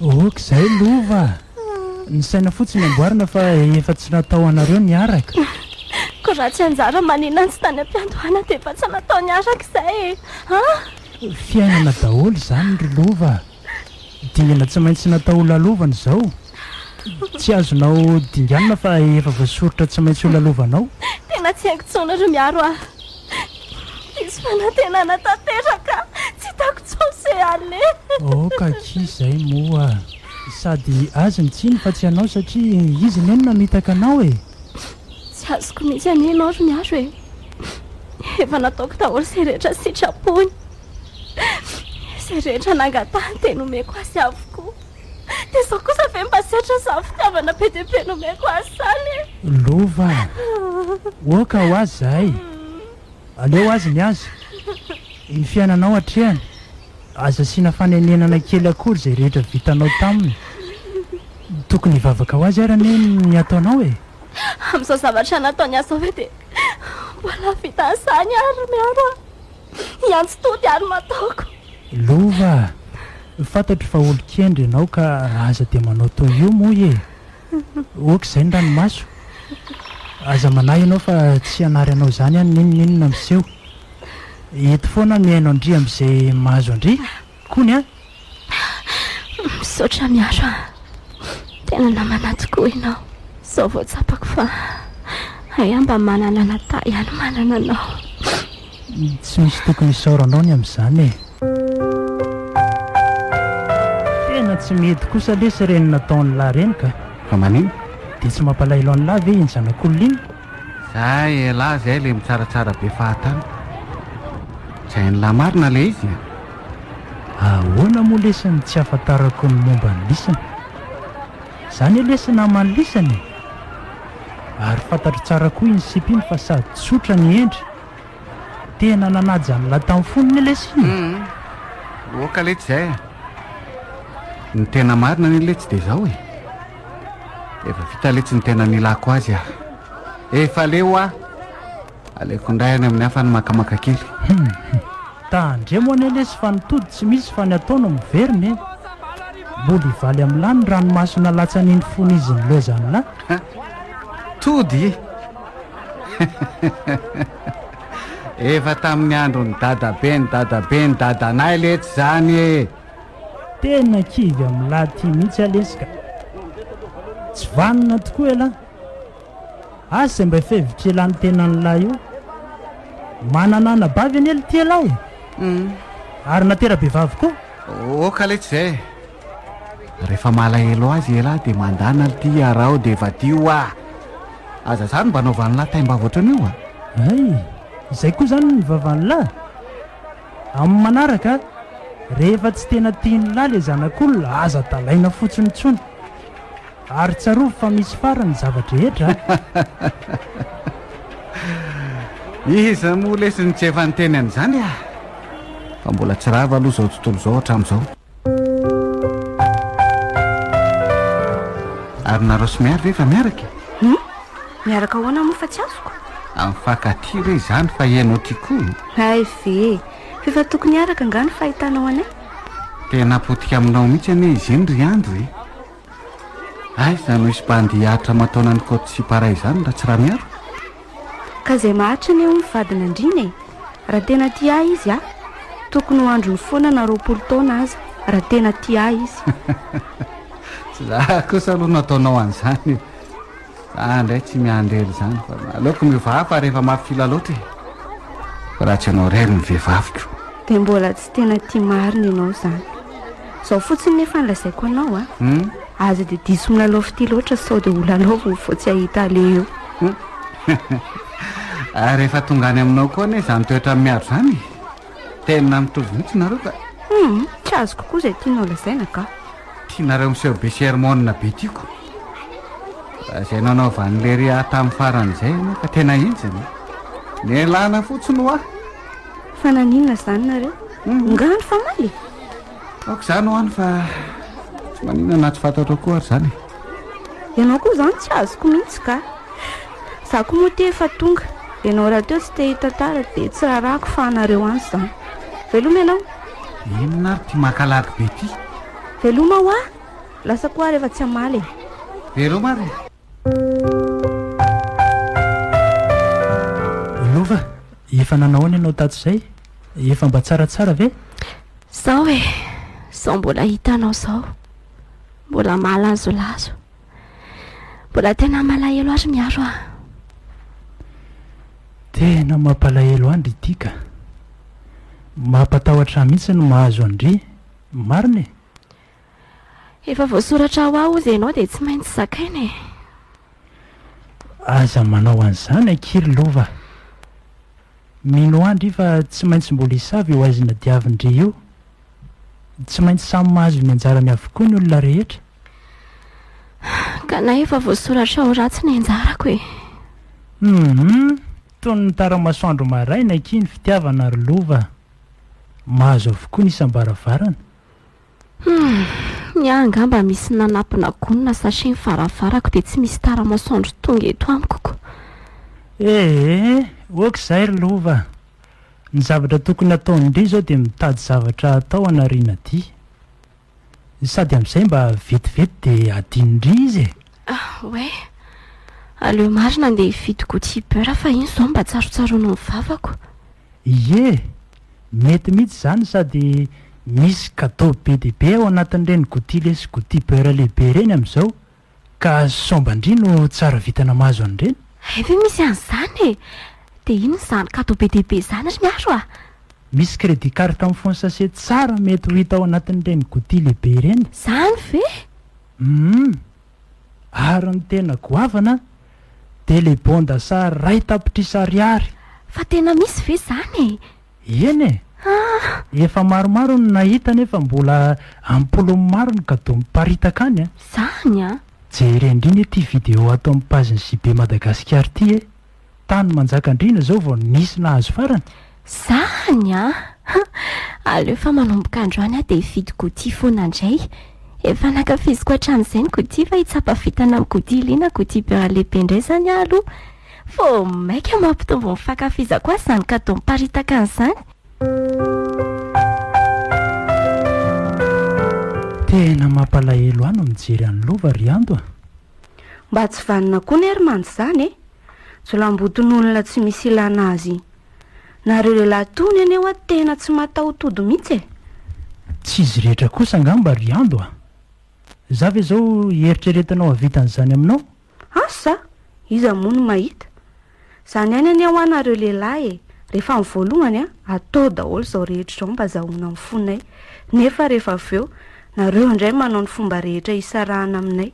Ok zay lova a! Ny saina fotsiny amboarina fa efa tsy natao anareo niaraka. Ko raha tsy anjara maninona tsy tany ampiandohana dia efa tsy natao niaraka izay e! An! Fiainana daholo izany ry lova a! Dingana tsy maintsy natao ho lalovana izao. Tsy azonao dinganina fa efa voasoritra tsy maintsy ho lalovanao. Tena tsy haiko intsony ry Miaro a! Diso fanantenana tanteraka, tsy hitako intsony se ale. Oh ka ki izay moa sady azy ny tsiny fa tsy anao satria izy anie no namitaka anao e. Tsy azoko mihitsy anie ianao ry Miaro e. Efa nataoko daholo izay rehetra sitrapony. Izay rehetra nangatahany dia nomeko azy avokoa. Dia izao kosa ve mba setra izany fitiavana be dia be nomeko azy izany e! Lova a! Oka ho azy izahay! Aleo azy ny azy! Iny fiainanao hatrehany, aza asiana fanenenana kely akory izay rehetra vitanao taminy! Tokony hivavaka ho azy ary anie ny ataonao e! Amin'izao zavatra nataony ahy izao ve dia mbola vita an'izany ary miaro ahy? Miantso tody ary mataoko. Lova a! Fantatro fa olon-kendry ianao ka raha aza dia manao toy io moa e! Oka izay ny ranomaso? Aza manahy ianao fa tsy hanary anao izany an, n'inon'inona miseho. Eto foana mihaino an-dry amin'izay mahazo an-dry. Kony a! Misaotra Miaro a! Tena namana tokoa ianao. Izao vao tsapako fa hay mba manana Nata ihany manana anao. Tsy misy tokony hisaora anao ny amin'izany e! Tena tsy mety kosa lesy ireny nataon'lah ireny ka! Fa manino? Dia tsy mampalahelo an'lah ve iny zanak'olona iny? Zay elah zay le mitsaratsara be fahatany. Zay ny lah marina le izy e. Ahoana moa lesy ny tsy ahafantarako ny momba ny lisany? Za anie lesy naman'ny lisany e! Ary fantatro tsara koa iny sipa iny fa sady tsotra ny endry. Tena nanaja ny lah tamin'ny fony anie lesy iny e! Oka letsy zay e. Ny tena marina anie letsy de zao e. Efa vita letsy ny tena nilako azy ah. Efa leo ah. Aleko indray any amin'ny hafa ny makamaka kely. Hmm. Tandremo anie lesy fa ny tody tsy misy fa ny atao no miverina e. Mbola hivaly amin'lah ny ranomasona latsan'iny fon'izy ny lezan'lah. Ha? Tody? Efa tamin'ny andron'ny dadabe ny dadabe ny dadanay letsy zany e. Tena kivy am lahy ty mihitsy ah lesy ka! Tsy vanona tokoa elah! Asa mba fevitra ialany tena ny lahy io! Manana anabavy anie lty elah e! Ary natera bevavy koa! Oh ka letsy zay e! Refa malahelo azy ialahy de mandana lty iaraho de vadio ah! Aza zany mba anaovan'lah taim-bava ohatran'io ah! Hay! Izay koa zany ny vavan'lah! Amin'ny manaraka, rehefa tsy tena tian'lah le zanak'olona, aza dalaina fotsiny intsony. Ary tsarovy fa misy farany ny zava-drehetra a! Iza moa lesy no tsy efa niteny an'izany a! Fa mbola tsy rava aloha izao tontolo izao hatramin'izao. Ary nareo sy miary ve efa miaraka e? Hmm? Miaraka ahoana moa fa tsy azoko? Amin'ny fakatia ve izany fa ianao ty koa? Hay ve, f'efa tokony hiaraka nga ny fahitanao anay? Tena potika aminao mihitsy anie izy iny ry Andro e. Aiza no hisy bandy hihatra aman-taonan'ny Côte Sipara izany raha tsy Ramiaro? Ka zay maharitra anie hono fadin'andriana e! Raha tena tia ahy izy a! Tokony ho androny foana na roapolo taona aza raha tena tia ahy izy. Tsy za kosa aloha nataonao an'izany e! Za indray tsy miandry ela izany fa aleoko miova hafa rehefa mafila loatra e! Fa raha tsy ianao irery ny vehivaviko. Dia mbola tsy tena tia marina ianao izany. Zao fotsiny nefa ny lazaiko anao a. Aza dia diso milalao fitia loatra sao dia ho lalaoviny vao tsy hahita aleha eo. Ary efa tonga any aminao koa anie izany toetra miaro izany e. Tena mitovy mihitsy nareo ka. Humm, tsy azoko koa izay tianao lazaina ka. Tianareo miseho be sermona be tiako. Raha izay nanaovan'i Lery ahy tamin'ny farany izay ianao ka tena enjana e. Nialana fotsiny hoa. Fa naninona izany nareo? Ongano fa maly e! Aoka izany ho any fa tsy maninona na tsy fantatrao koa ary izany e! Ianao koa izany tsy azoko mihitsy ka! Za koa moa tia efa tonga, ianao rahateo tsy te hitantara dia tsy rarako fa anareo any izany. Veloma ianao! Inona ary ity makalagy be ity? Veloma hoa! Lasa koa ary efa tsy hamaly e! Veloma ary e! Lova, efa nanao ahoana ianao tato izay? Efa mba tsaratsara ve? Sao e, sao mbola hitanao sao. Mbola malazolazo. Mbola tena malahelo ary miaro ah. Tena mampalahelo andry ity ka. Mampatahotra mihitsy ny mahazo andry. Marina e. Efa voasoratra ao aho ozy enao dia tsy maintsy zakaina e! Aza manao an'izany ankiry lova! Mino ahy ndry fa tsy maintsy mbola hisava io haizina diavin-dry io! Tsy maintsy samy mahazo ny anjarany avokoa ny olona rehetra! Ka na efa voasoratra ho ratsy ny anjarako e! Humm! Toy ny tara-masoandro maraina akia ny fitiavana ry lova! Mahazo avokoa ny isam-baravarana! Humm! ny ahy angamba misy nanatona gony na sachet ny varavarako dia tsy misy tara masoandro tonga eto amiko ko! Ee, ok izay ry lova! ny zavatra tokony ataony indray izao dia mitady zavatra atao hanariana dia. Sady amin'izay mba vetivety dia adino indray izy e! Ah ouais! aleo marina andeha hividy goût beurre fa iny izao mba tsarotsaroan'ny vavako! Ie! Mety mihitsy izany sady misy cadeau be dia be ao anatin'ireny goutille sy goutille beurre lehibe ireny amin'izao ka somban-dry no tsara vintana mahazo an'ireny. Hay ve misy an'izany e! Dia inona izany cadeau be dia be izany ry Miaro a! Misy crédit carte mifono sachet tsara mety ho hita ao anatin'ireny goutille lehibe ireny. Izany ve? Hum. Ary ny tena goavana dia le bonda sa ray tapitrisa ariary. Fa tena misy ve zany e? Eny e! Efa maromaro no nahita nefa mbola am-polony maro ny kadoa miparitaka any a! Zany a! Jere indrindra ity video ato amin'ny page-n'i JB Madagascar ity e! Tany Manjakandriana izao vao nisy nahazo farany? Zany a! Aleo fa manomboka androany aho dia hividy gouty foana indray. Efa nankafiziko hatramin'izay ny gouty fa hitsapa vintana amin'ny gouty ly na gouty beurre lehibe indray izany aho aloha. Vao mainka mampitombo ny fankafizako azy izany cadeau miparitaka an'izany. Tena mampalahelo ahy no mijery an'i Lova ry Ando a! Mba tsy vanona koa ne ry manj zany e! Jolamboton'olona tsy misy ilana azy. Nareo lehilahy tony anie wa tena tsy mataho-tody mihitsy e! Tsy izy rehetra kosa angamba ry Ando a! Za ve zao eritreretinao hahavita an'izany aminao? Asa! Iza moa no mahita? Zany ihany anie hoa nareo lehilahy e! Rehefa ny voalohany an, atao daholo izao rehetra izao mba azahoana ny fonay. Nefa rehefa avy eo, nareo indray manao ny fomba rehetra hisarahana aminay.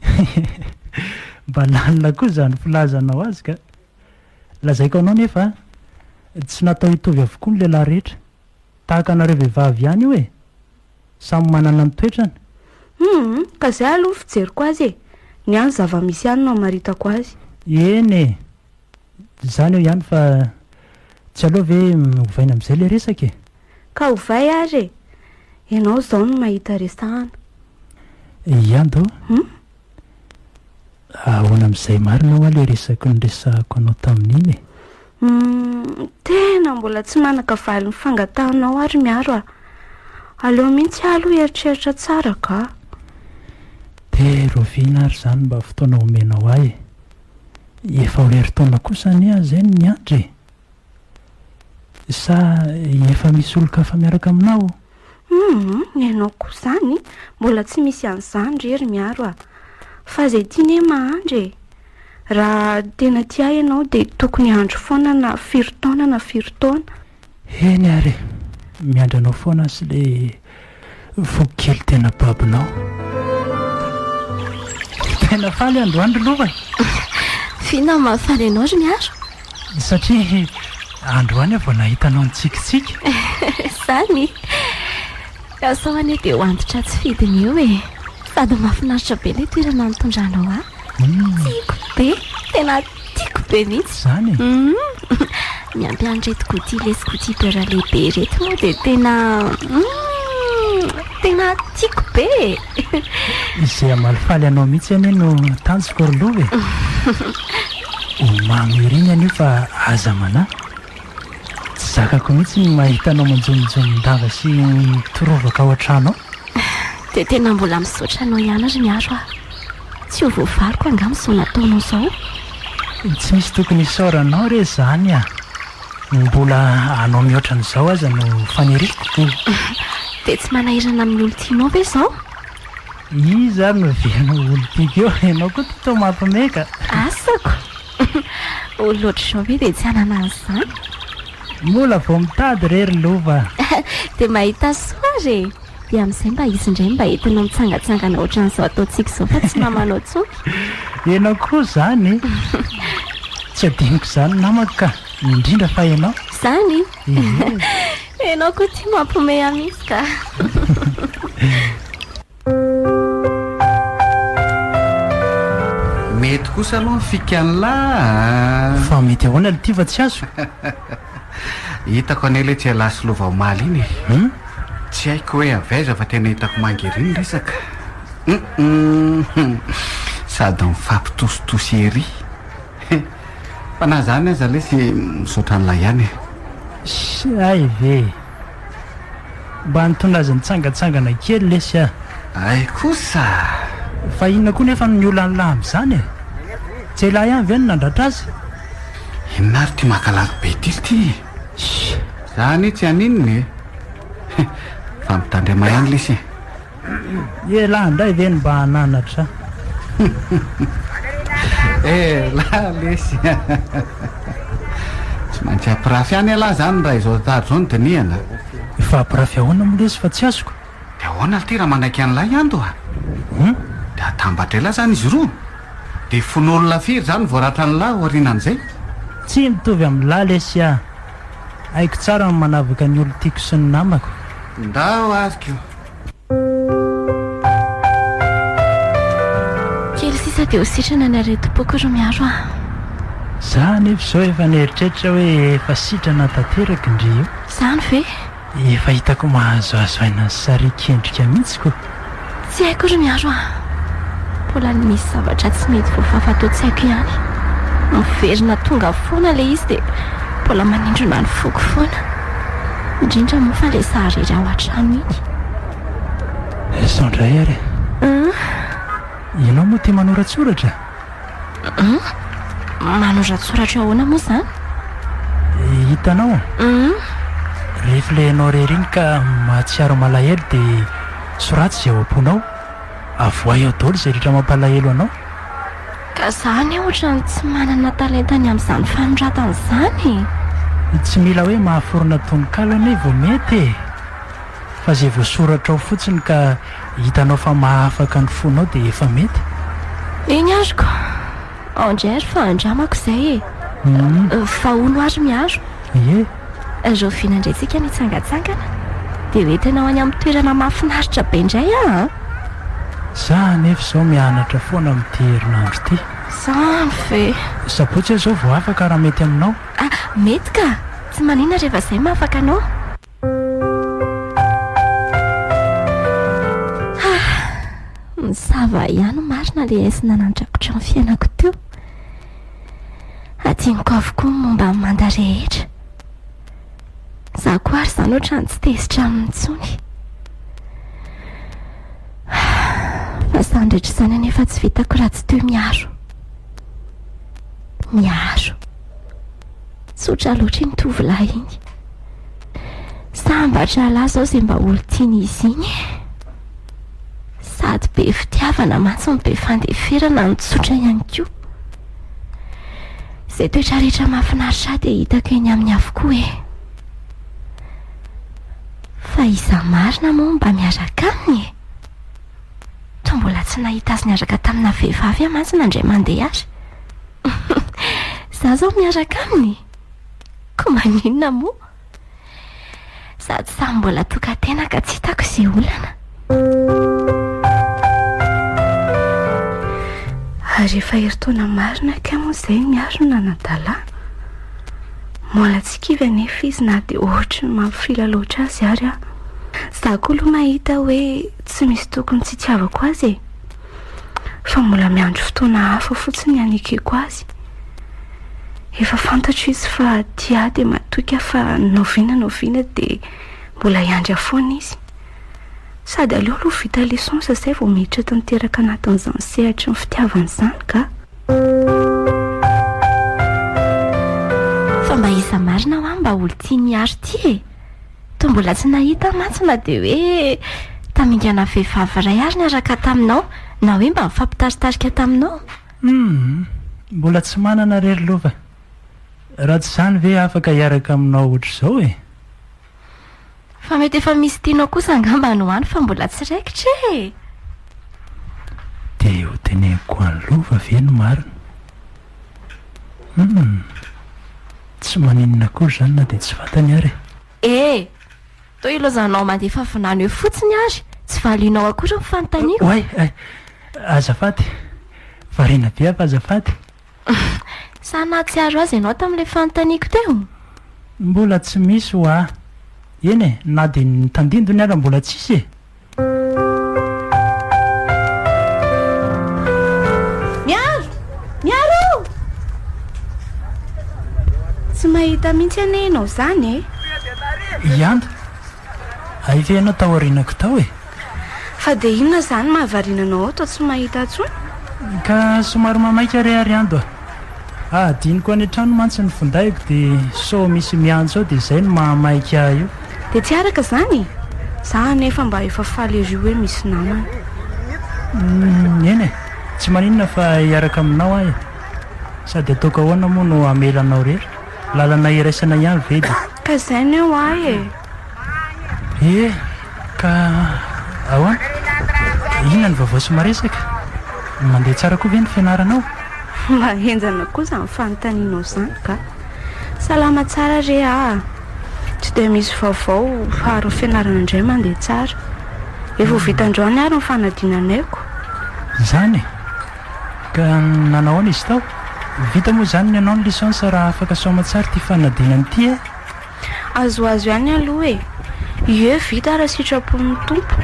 Mba lalina koa izany filazanao azy ka! Lazaiko anao nefa an, tsy natao hitovy avokoa ny lehilahy rehetra. Tahaka anareo vehivavy ihany io e! Samy manana ny toetrany. Humm, ka zay aloha fijeriko azy e! Ny ahy ny zava-misy ihany no amaritako azy. Eny e! Izany eo ihany fa tsy aleo ve ovaina amin'izay ilay resaka e! Ka ovay ary e! Ianao izao no mahita resahana. Ianto. Humm. Ahoana amin'izay marina hoa le resaky noresahako anao tamin'iny e? Humm, tena mbola tsy manaka valiny fangatahanao ary Miaro a! Aleo mihitsy aho aloha hieritreritra tsara ka! De rovina ary zany mba fotoana omenao ahy e! Efa ho herintaona kosa anie aho zay no miandry e! Sa efa misy olon-kafa miaraka aminao? Humm, ny anao koa izany, mbola tsy misy an'izany re ry Miaro a! Fa izay tia ne mahandry e! Raha tena tia ahy ianao dia tokony hahandro foana na firy taona na firy taona. Eny ary, miandry anao foana sy ilay Voky kely tena babonao. Tena faly androany ry lova e! F'inona no mahafaly anao ry Miaro? Satria androany aho vao nahita anao nitsikitsiky. Zany? Ka sao anie dia ho antitra tsy fidiny eo e! Sady mahafinaritra be ilay toerana nitondranao ahy. Tiako be! Tena. Tiako be mihitsy izany e! Uhm, miampy an'ireto goûty lesy goûty beurre lehibe ireto moa dia tena uhm, tena tiako be e! Izay hamalifaly anao mihitsy anie no tanjoko ry lova e! Ho mamy ery ny anio fa aza manahy! Tsy zakako mihitsy ny mahita anao manjoninjonin-dava sy mitorovaka ao an-trano ao! Dia tena mbola misaotra anao ihany ry Miaro a! Tsy ho voavaliko angamba izao nataonao izao. Tsy misy tokony hisaora anao re izany a! Ny mbola hanao mihoatra an'izao aza no faniriako. Dia tsy manahirana amin'ny olon-tianao ve izao? Iza ary no velona ho olon-tiako eo? Ianao koa ity toa mampime ka! Asako! Olona ohatr'izao ve dia tsy hanana an'izany? Mbola vao mitady re ry lova! Dia mahita soa ary e! Dia amin'izay mba izy indray mba entinao mitsangantsangana ohatran'izao ataontsika izao fa tsy namanao tsotra. Ianao koa izany e! Tsy adinoko izany namako ka! Indrindra fa ianao. Izany? Ianao koa tia mampiomehy ahy mihitsy ka! Mety kosa aloha ny fikan'lah a! Fa mety ahoana le ty fa tsy azo? Hitako anie ilay tsy ialahy sy lova omaly iny e! Hum? Tsy haiko hoe avy aiza fa tena hitako manga ery ny resaka. Hum-hum-hum! Sady mifampitositosy ery. Fa na izany aza lesy misaotra an'ilay ihany e! Sy hay ve e! Mba nitondra azy nitsangatsangana kely lesy ah. Hay kosa ah. Fa inona koa nefa no niolan'lah amin'izany eh? Tsy elah ihany ve no nandratra azy? Inona ary ity makalango be ity ity eh? Shh! Za anie tsy haninona eh. Fa mitandrema ihany lesy eh. Ialahy indray ve no mba hananatra? Ialahy lesy a! Tsy maintsy hampirafy ihany ialahy izany raha izao tahaka izao no dinihana. Efa hampirafy ahoana moa lesy fa tsy azoko? Dia ahoana ity raha manaiky an'ilay hianto a? Hum? Dia hatambatra ialahy izany izy roa? Dia fon'olona firy izany vao ratran'ilahy aorianan'izay? Tsy mitovy amin'ilahy lesy a! Haiko tsara ny manavaka ny olon-tiako sy ny namako. Ndao ary ko! Kely sisa dia ho sitrana ny aretim-poko ry Miaro a! Za anefa izao efa nieritreritra hoe efa sitrana tanteraka ndry io. Zany ve? Efa hitako mahazoazo aina ny sarian-kendrika mihitsy ko. Tsy haiko ry Miaro a! Mbola misy zavatra tsy mety voafafa ato tsy haiko ihany. Miverina tonga foana ilay izy dia mbola manindrona ny foko foana. Indrindra moa fa ilay sary iry ao an-trano iny. Sao indray ary e. An? Ianao moa tia manoratsoratra? An? Manoratsoratra ahoana moa izany? Hitanao? An? Rehefa ilay ianao irery iny ka mahatsiaro malahelo dia soraty izay ao am-ponao. Avoahy ao daholo izay rehetra mampalahelo anao. Ka za anie ohatran'ny tsy manana talenta ny amin'izany fanoratana izany e! Tsy mila hoe mahaforona tononkalo anie vao mety e! Fa izay voasoratra ao fotsiny ka hitanao fa mahafaka ny fonao dia efa mety. Eny ary ko! Ao indray ary fa andramako izay e! Fa hono ary miaro? Ie! Rahoviana indray isika mitsangantsangana dia ho entinao any amin'ny toerana mahafinaritra be indray aho an! Za anefa izao mianatra foana amin'ity herinandro ity. Zany ve! Sabotsy aho izao vao afaka raha mety aminao. Ah, mety ka! Tsy maninona rehefa izay maha afaka anao. Ah, mizava ihany marina ilay haisina nandrakotra ny fiainako teo. Hadinoko avokoa ny momba an'i Manda rehetra. Izaho koa ary izany ohatrany tsy tezitra aminy intsony. Fa izany rehetra izany anefa tsy vitako raha tsy toy miaro. Miaro. Tsotra loatra iny tovolahy iny. Sambatra lahy zao zay mba olon-tian'izy iny e! Sady be fitiavana mantsy no be fandeferana no tsotra ihany koa. Izay toetra rehetra mahafinaritra ahy dia hitako eny aminy avokoa e! Fa iza marina moa mba miaraka aminy e? Toa mbola tsy nahita azy niaraka tamina vehivavy aho mantsy na indray mandeha ary. Izaho izao miaraka aminy? Koa maninona moa? Sady samy mbola tokan-tena ka tsy hitako izay olana. Ary efa herintaona marina kay moa izay ny arona anadala. Mbola tsy kivy anefa izy na dia ohatry ny mampifila loatra azy ary aho. Za koa aloha mahita hoe tsy misy tokony tsy itiavako azy e. fa mbola miandry fotoana hafa fotsiny hanekeko azy. Efa fantatro izy fa tia ahy dia matoky aho fa na oviana na oviana dia mbola hiandry ahy foana izy. Sady aleo aloha vita licence izay vao miditra tanteraka anatin'izany sehatry ny fitiavana izany ka. Fa mba iza marina hoa mba olon-tian'i Hary ity e? Toa mbola tsy nahita mantsy na dia hoe tamingana vehivavy iray àry niaraka taminao, na hoe mba nifampitaritarika taminao? Humm, mbola tsy manana re ry lova. Raha tsy izany ve afaka hiaraka aminao hoatr'izao e? Fa mety efa misy tianao kosa angamba no any fa mbola tsy raikitra e! Dia hoteneniko an'i lova ve ny marina? Humm! Tsy maninona akory izany na dia tsy vatany ary e! Eh! Toa ilazanao mandefa vinany eo fotsiny ary tsy valianao akory ny fanontaniako. Oay! Ay! Azafady! Variana be aho fa azafady! Sa nahatsiaro azy ianao tamin'ilay fanontaniako teo? Mbola tsy misy hoa! Eny e, na dia ny tandindony ary mbola tsisy e! Miaro! Miaro! Tsy mahita mihitsy anie ianao izany e! Ianda! Hay ve ianao taorianako tao e? Fa dia inona izany mahavariana anao ao toa tsy mahita intsony? Ka somary mamaika re ary Ando a! Hadinoko any an-trano mantsy ny findaiko dia sao misy miantso ao dia izay no mahamaika ahy io. Dia tsy araka izany e! Za anefa mba efa faly ery hoe misy namana. Humm eny e! Tsy maninona fa hiaraka aminao aho e! Sady ataoko ahoana moa no hamela anao irery? Lalana iraisana ihany ve dia. Ka izay ny eo ahy e! Ie, ka ahoana? Inona ny vaovao sy maresaka? Mandeha tsara koa ve ny fianaranao? Mba henjana koa izany fanontanianao izany ka! Salama tsara re aa! Tsy dia misy vaovao fa ary ny fianarana indray mandeha tsara. Efa ho vita androany ary ny fanadinanaiko. Izany e! Ka nanahoana izy tao? Vita moa izany ny anao ny licence raha afaka soamantsara ity fanadinana ity e! Azoazo ihany aloha e! Ie vita raha sitrapon'ny Tompo.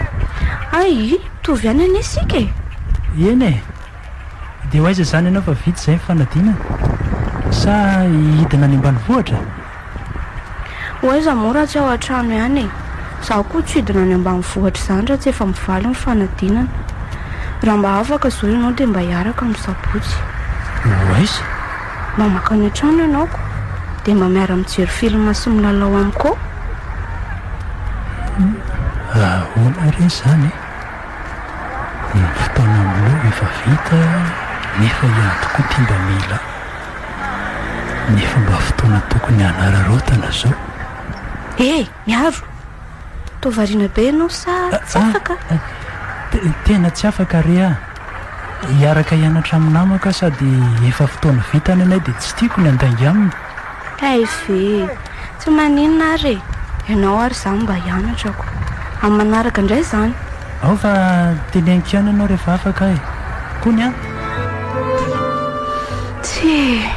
Hay! Mitovy ihany anie isika e! Eny e! Dia ho aiza izany ianao fa vita izay ny fanadinana? Sa hidina any ambanivohitra? Ho aiza moa raha tsy ao an-trano ihany e! Izaho koa tsy hidina any ambanivohitra izany raha tsy efa mivaly ny fanadinana. Raha mba afaka izao ianao dia mba hiaraka amin'ny Sabotsy. Ho aiza? Mamaka any an-trano ianao ko dia mba miara-mijery film sy milalao amiko ao. Ahoana re izany e? Ny fotoana aminao efa vita nefa hiady koa ity mba mila ny fomba fotoana tokony hanararaotana izao. He! Miaro! Toa variana be ianao sa tsy afaka? Tena tsy afaka re ah! Hiaraka hianatra amin'ny namako aho sady efa fotoana vita ny anay dia tsy tiako ny handainga aminy. Aiz e! Tsy maninona ary e! Ianao ary izaho mba hianatrako. Amin'ny manaraka indray izany. Ao fa teneniko ihany ianao rehefa afaka aho e! Kony an! Tsia!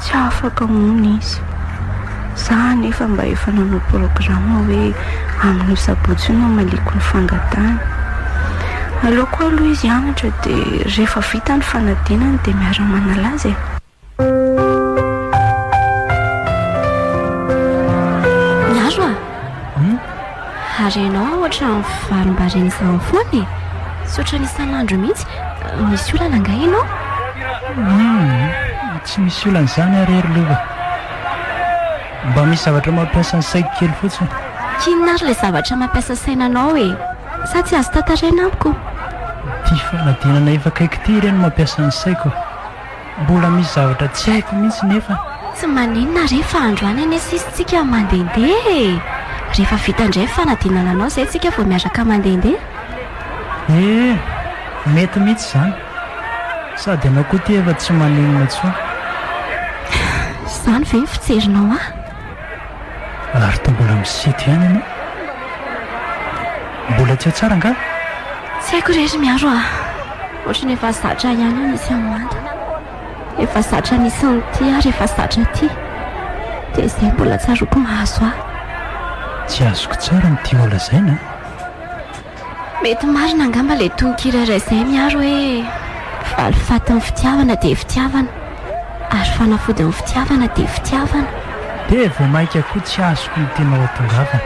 Tsy afaka hono izy. Za anefa mba efa nanao programa hoe amin'io sabotsy io no hamaliako ny fangatahany. Aleoko aloha izy hianatra dia rehefa vita ny fanadinany dia miara-manala azy e. Miaro a! Hum? Ary ianao an ohatra mivarimbariny izany foana e! Tsy ohatran'ny isan'andro mihitsy. Misy olana angaha ianao? Hum! Tsy misy olana izany ary e ry lova. Mba misy zavatra mampiasa ny saiko kely fotsiny. K'inona ary ilay zavatra mampiasa saina anao e? Sa tsy azo tantaraina amiko? Ity fanadinana efa akaiky ity re no mampiasa ny saiko. Mbola misy zavatra tsy haiko mihitsy nefa. Tsy maninona re fa androany anie sisy tsika mandehandeha e! Rehefa vita indray ny fanadinana anao izay tsika vao miaraka mandehandeha. Ee, mety mihitsy izany. Sady ianao koa ity efa tsy maninona intsony. Izany ve ny fijerinao ahy? Ary toa mbola misito ihany ianao. Mbola tsy tsara angaha? Tsy haiko re ry Miaro a! Ohatran'ny efa zatra ihany ny misy an'i Mada. Efa zatra nisy an'ity ary efa zatra ity. Dia izay mbola tsaroako mahazo ahy. Tsy azoko tsara ny tianao lazaina a! Mety marina angamba ilay tononkira iray izay miharo hoe, Valifatin'ny fitiavana dia fitiavana, ary fanafodin'ny fitiavana dia fitiavana. Dia vao mainka koa tsy azoko ny tianao hatongavana.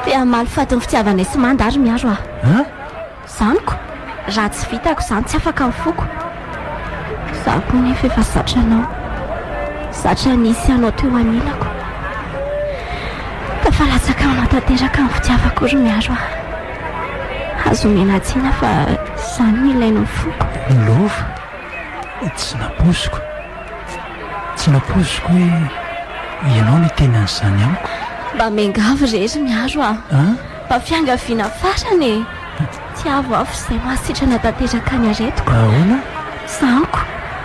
Te hamaly fatin'ny fitiavanay sy manda ary miaro aho. An? Zaniko, raha tsy vitako izany tsy afaka ny foko. Izaho koa nefa efa zatra anao. Zatra nisy anao teo anilako. Tafalatsaka aminao tanteraka ny fitiavako ry Miaro ah. Aza omena tsiny fa izany no ilain'ny foko. Ny lova tsy nampoiziko. Tsy nampoiziko hoe ianao no hiteny an'izany amiko. Mba miangavy re ry Miaro ah. Mba fiangaviana farany e. Tiavo aho f'izay mahasitrana tanteraka ny aretiko. Ahoana? Zanko,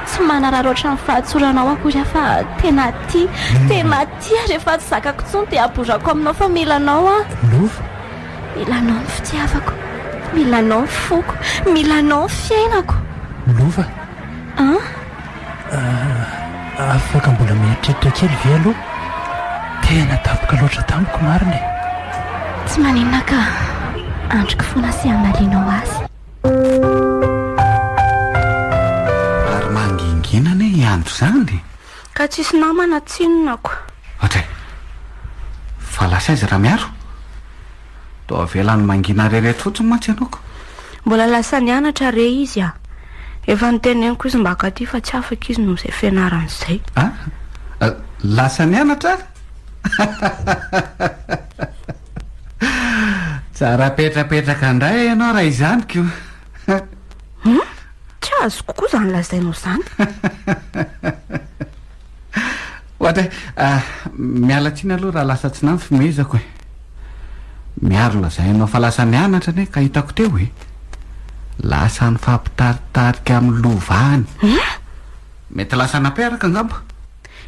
tsy manararaotra ny fahatsoranao akory aho fa tena tia, tena tia rehefa tsy zakako intsony dia aborako aminao fa mila anao aho. Lova. Mila anao ny fitiavako, mila anao ny foko, mila anao ny fiainako. Lova. An? Afaka mbola mieritreritra kely ve aloha? Tena tapaka loatra tamiko marina e! Tsy maninona ka, andriko foana sy hamalianao azy. Ary mangingina anie i andro izany! Ka tsisy namana tsinona ko. Ohatray! Fa lasa aiza Ramiaro? Toa avela ny mangina re reto fotsiny mantsy ianao ka. Mbola lasa nianatra re izy a! Efa noteneniko izy mba akaty fa tsy afaka izy noho izay fianarany izay. A? Lasa nianatra ary? Tsara petrapetraka indray ianao raha izany ko. Hum? Tsy azoko koa izany lazainao izany. Ohatra hoe, ah, miala tsiny aloha raha lasa tsy namfimehezako e. Miaro lazaina anao fa lasa nianatra anie ka hitako teo e. Lasa nifampitaritarika amin'ny lova any. Eh? Mety lasa napearaka angamba.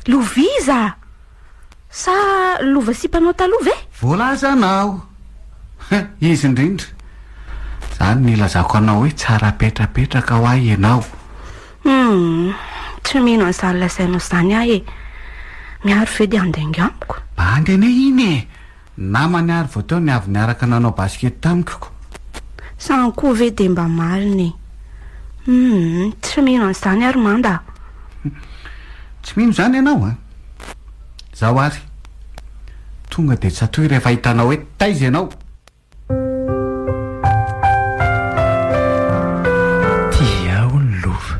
Lova iza? Sa lova sipanao taloha ve? Voalazanao. Izy indrindra. Izany nilazako anao hoe tsara apetrapetraka ho ahy ianao. Humm, tsy mino an'izany lazainao izany aho e! Mihary ve dia handeha ingahy amiko? Bandy anay iny e! Namany ary vao teo niavy niaraka nanao basket tamiko. Izany koa ve dia mba marina e! Humm, tsy mino an'izany ary Manda a! Tsy mino izany ianao a! Izaho ary, tonga dia tsatoy rehefa hitanao hoe taiza ianao! Tia aho ny lova.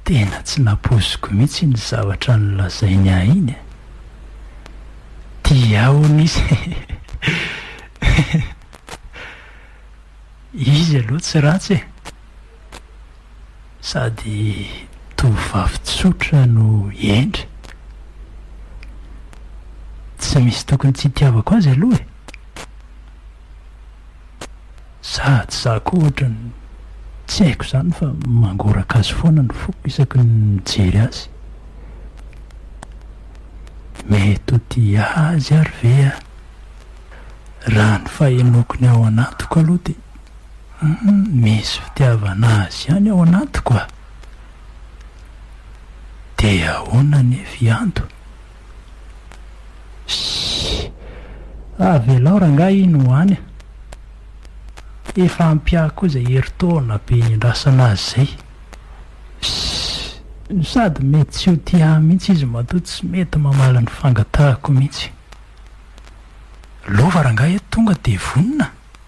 Tena tsy nampoiziko mihitsy iny zavatra nolazainy ahy iny e! Tia ahy hono izy hehehehe! Izy aloha tsy ratsy e! Sady tovovavy tsotra no hendry. Tsy misy tokony tsy hitiavako azy aloha e! Za tsy za koa ohatrany tsy haiko izany fa mangoraka azy foana ny foko isaky ny mijery azy. Mety ho tia azy ary ve aho? Raha ny fahenoako ny ao anatiko aloha dia Humm misy fitiavana azy ihany ao anatiko a! De ahoana anie fianto? Shhh! Avelao rangahy iny ho any a! Efa ampy ahy koa izay herintaona be niandrasana azy izay. Shhh! Sady mety tsy ho tia ahy mihitsy izy matoa tsy mety mamaly ny fangatahako mihitsy. Lova rangahy e tonga de vonona!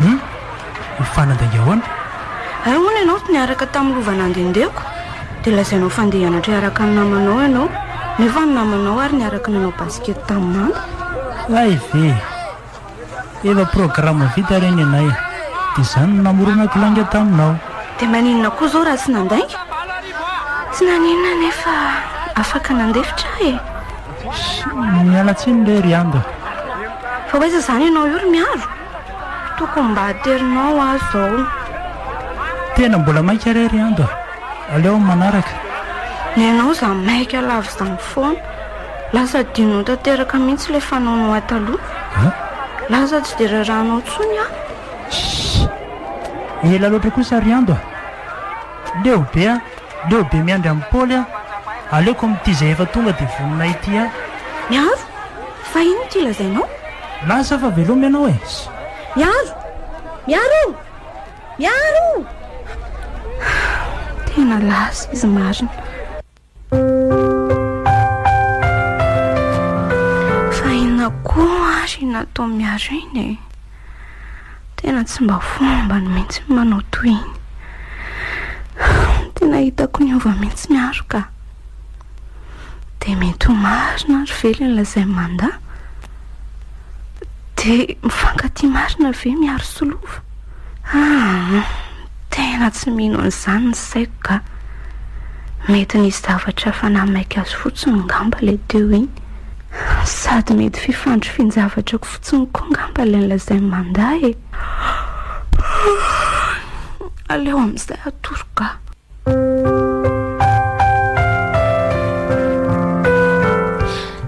Hum! Ho fanadinga ahoana? Hay hono ianao tsy niaraka tamin'ny lova nandehandehako dia lazainao fa handeha hianatra hiaraka amin'ny namanao ianao nefa ny namanao ary niaraka nanao basket tamin'i mama. Hay ve! Efa programme vita ireny ianay dia izany no namoronako lainga taminao. Dia maninona koa izao raha tsy nandainga? Tsy naninona anefa afaka nandefitra aho e! Miala tsiny re ry Ando. Fa ho aiza izany ianao io ry Miaro? Tokony mba aterinao aho izao. Tena mbola maika re ry Ando a! Aleo amin'ny manaraka. Ny anao za maika lavo izany foana. Lasa adinonao tanteraka mihitsy ilay fanaonao ahy taloha. Lasa tsy dia rarahanao intsony aho. Shh! Ela loatra kosa ry Ando a! Leo be a! Leo be miandry an'i Paoly aho. Aleoko amin'ity izay efa tonga dia vonona ity aho. Miaro, fa inona ity lazainao? Milaza aho fa veloma ianao e! Sy. Miaro! Miaro o! Miaro o! Tena lasa izy marina. Fa inona koa ary no nataon'i Miaro iny e? Tena tsy mba fombany mihitsy ny manao toy iny. Tena hitako niova mihitsy ny aro ka. Dia mety ho marina ary ve ilay lazain'i Manda? Dia mifankatia marina ve miaro sy lova? Ah! Tena tsy mino an'izany ny saiko ga. Mety nisy zavatra efa nahamaika azy fotsiny ngamba ilay teo iny. Sady mety fifandrifian-javatra fotsiny koa ngamba ilay nolazain'i Manda e. Aleo amin'izay atoro ga.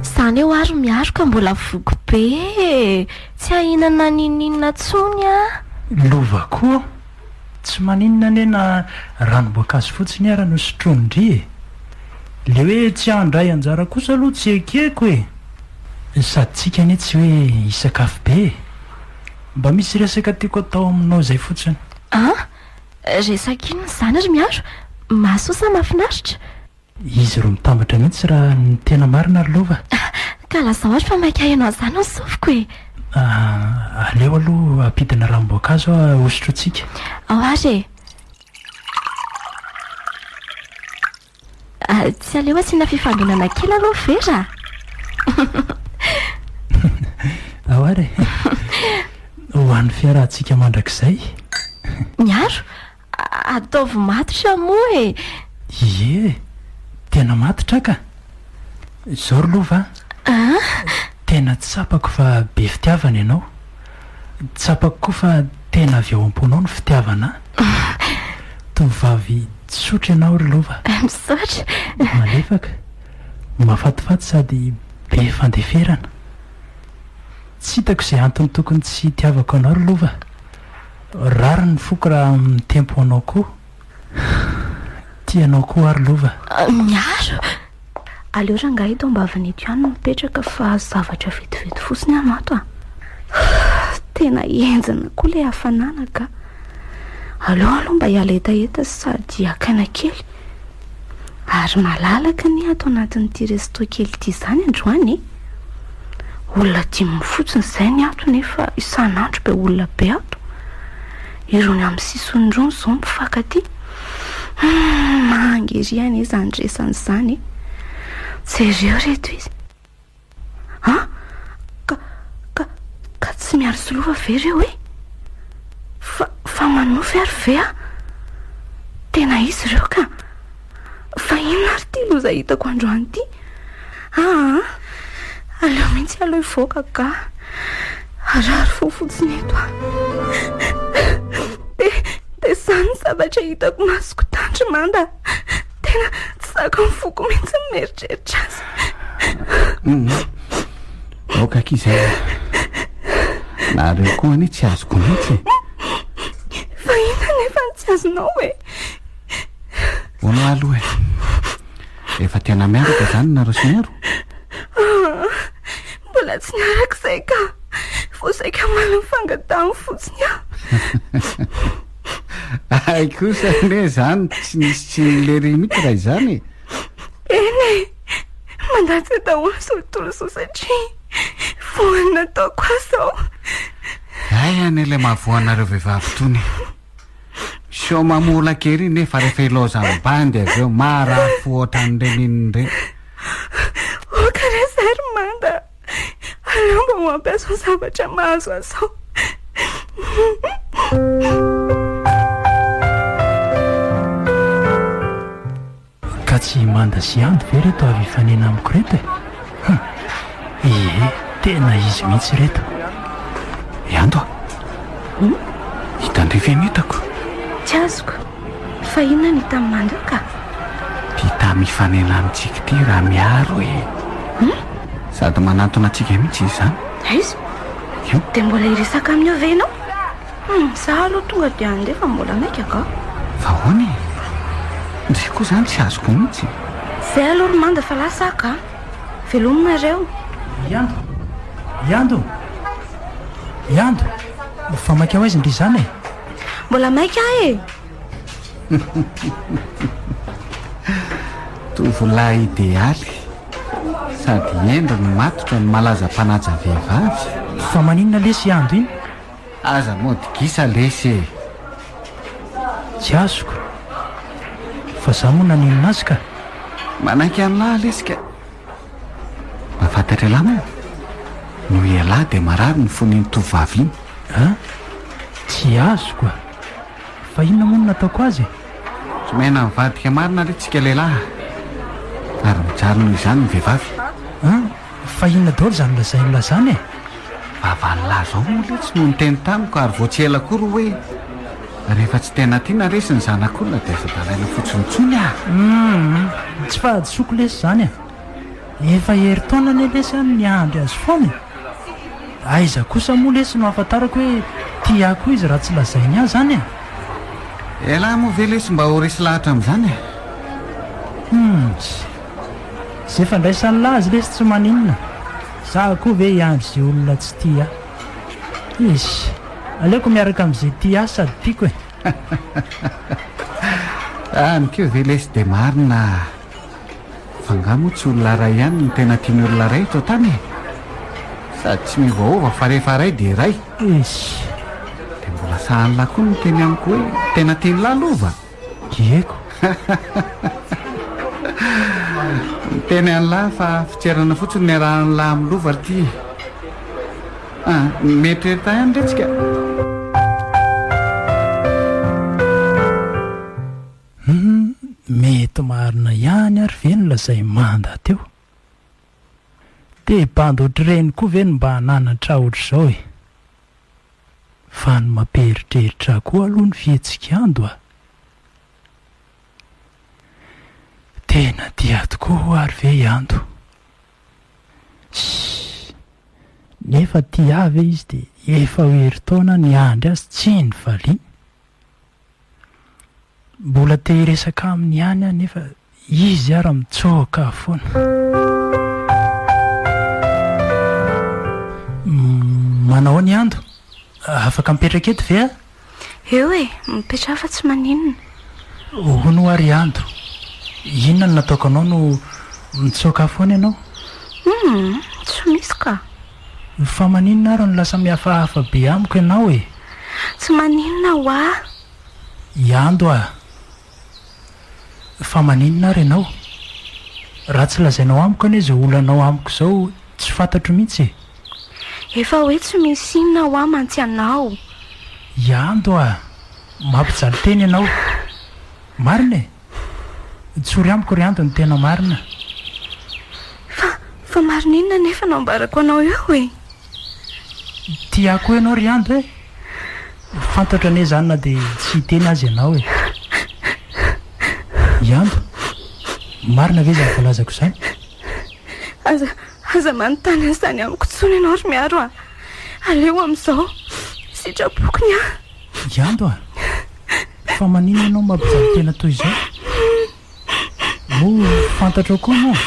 Izany eo ary miaro ka mbola voky be e. Tsy ahinana n'ininona tsony ah. Lova koa tsy maninona anie na ranom-boankazo fotsiny ara no sotroin-dry e! Le hoe tsy handray anjara kosa aloha tsy ekeko e! Sady tsika anie tsy hoe hisakafo be e! Mba misy resaka tiako atao aminao izay fotsiny. An! Resaka inona izany ry Miaro? Mahasoa sa mahafinaritra? Izy ro mitambatra mihitsy ra ny tena marina ry lova. Ka lazao ary fa maika haino an'izany ny sofiko e! Ah, aleo aloha hampidina ranom-boankazo aho ahosotrotsika. Ao ary e! Ah, tsy aleo asiana fifandonana kely aloha ve ra? Ao ary e! Ho an'ny fiarahantsika mandrakizay. Miaro, Ataovy matotra moa e! Ie, tena matotra ka! Izao ry lova a! Tena tsapako fa be fitiavana ianao. Tsapako koa fa tena avy ao am-ponao ny fitiavana ahy. Tovovavy tsotra ianao ry lova. Misaotra! Malefaka, mahafatifaty sady be fandeferana. Tsy hitako izay antony tokony tsy hitiavako anao ry lova. Rariny ny foko raha mitempo anao koa Tia anao koa ary lova Miaro! Aleo rangahy eto ambavany eto ihany no mipetraka fa zavatra vetivety fotsiny aho no ato a! Tena henjana koa ilay hafanana ka! Aleo aloha mba hiala hetaheta sady hakaina kely. Ary malalaka anie ato anatin'ity resto kely ity izany androany e! Olona dimy fotsiny izay ny ato nefa isan'andro be olona be ato. Irony amin'ny sisiny irony izao mifankatia. Hum, maha-angeria anie izany resany izany e! Jereo ireto izy. Ha? Ka, ka, ka tsy miaro sy lova ve reo e? Fa, fa manofy ary ve a? Tena izy ireo ka. Fa inona ary ty loza hitako androany ty? Aa, aleo mihitsy aloha hivoaka ka. Harary fo fotsiny eto a. Dia, dia izany zavatra hitako masoko tandry manda. Tena tsy zaka ny foko mihitsy ny mieritreritra azy. Hum, aoka akia izay. Nareo koa anie tsy azoko mihitsy. Fa inona nefa ny tsy azonao e? Hono aloha e. Efa tena miaraka izany nareo sy Mero? Ah, mbola tsy niaraka izay ka. Vao saika omaly nifangatahany fotsiny aho. Hay kosa anie izany tsy nisy tsy nilery mihitsy raha izany e. Eny e, mandatsa daholo izao tontolo izao satria voan'ny nataoko ahy izao. Hay anie ilay mahavoanareo vehivavy itony. Sao mamola kely nefa rehefa ilaozan'ny bandy avy eo marary fo ohatran'ireny inona ireny. Aleo mba ho ampiaso zavatra mahazo ahy sao. Ka tsy i Manda sy Andy ve ireto avy hifanena amiko ireto e? Huh! Ie, tena izy mihitsy ireto. Ianto a! Hitan-dry ve ny entako? Tsy azoko. Fa inona ny tam mandoka? Ty tam ifanena amintsika ty raha miaro e! Hum? Sady manantona antsika mihitsy izy zany. Aiza? Io. Dia mbola hiresaka aminy eo ve ianao? Hum, za aloha tonga dia handeha fa mbola maika angaha. Fa ahoana e? Ndry koa zany tsy azoko mihitsy. Zay aloha ry Manda fa lasa aho ka. Veloma nareo. Yando! Yando! Yando! Fa maika ho aiza ndry izany e? Mbola maika ahy e! Tovolahy idealy sady hendry no matotra ny malaza mpanaja vehivavy. Fa maninona lesy i Ando iny? Aza mody gisa lesy e! Tsy azoko. Fa za moa naninona azy ka? Manaiky an'lah lesy ka! Mba fantatra elah moa? Noho ialahy dia marary ny fon'iny tovovavy iny. An? Tsy azoko a! Fa inona moa no nataoko azy e? Tsy miaina mivadika marina re tsika lehilahy a! Ary mijaly noho izany ny vehivavy. An? Fa inona daholo izany lazain'i lah izany e? Vavany lah izao moa letsy no niteny tamiko ary vao tsy ela koa ry hoe. Rehefa tsy tena tiana resy ny zanak'olona dia aza dalaina fotsiny intsony ah! Humm! Tsy fahadisoako lesy izany e! Efa herintaona anie lesy aho no miandry azy foana e! Aiza kosa moa lesy no ahafantarako hoe tia koa izy raha tsy lazainy ahy izany e! Elah moa ve lesy mba ho resy lahatra amin'izany e! Humms! Izay fandraisan'lah azy lesy tsy maninona! Izaho koa ve hiandry izay olona tsy tia ahy? Izy, Aleoko miaraka amin'izay tia sady tiako e! Any koa ve lesy dia marina fa angaha moa tsy olona iray ihany no tena tian'ny olona iray eto an-tany e? Sady tsy miovaova fa rehefa iray dia iray. Izy, Dia mbola sahala koa ny teny amiko hoe tena tian'lah lova. Diego! Niteny an'lah fa fitserana fotsiny niarahan'lah milova ity. Ah, mieritreritra ihany re tsika. Mety marina ihany ary ve ny lazain'i Manda teo? Dia bandy ohatr'ireny koa ve no mba hananatra ohatr'izao e! Fa ny mampieritreritra koa aloha ny fihetsik'Ando a! Tena tia tokoa ho'a ary ve i Ando? Sss! Nefa tia ahy ve izy dia efa ho herintaona niandry azy tsy nivaliany? Mbola te hiresaka aminy ihany aho nefa izy ara mitsoaka aho foana. Manao ahoana i Ando? Afaka mipetraka eto ve aho? Eo e, mipetraha fa tsy maninona. Hono hoa ry Ando, inona no nataoko anao no mitsoaka ahy foana ianao? Humm, tsy misy ka. Fa maninona ary no lasa mihafahafa be amiko ianao e? Tsy maninona ho ahy. Iando a! Fa maninona ary ianao? Raha tsy lazainao amiko anie izao olanao amiko izao tsy fantatro mihitsy e! Efa hoe tsy misy inona ho ahy mantsy ianao. Iando a! Mampijaly tena ianao. Marina e! Tsory amiko ry Ando ny tena marina. Fa, fa marina inona anefa no ambarako anao eo e? Tiako ho ianao ry Ando e! Fantatro anie izany na dia tsy hiteny aza ianao e! I Ando, marina ve izany voalazako izany? Aza, aza manontany an'izany amiko intsony ianao ry Miaro a! Aleo amin'izao, sitrapoko ny ahy. I Ando a! Fa maninona ianao mampijaly tena toy izao? Moa fantatrao koa moa?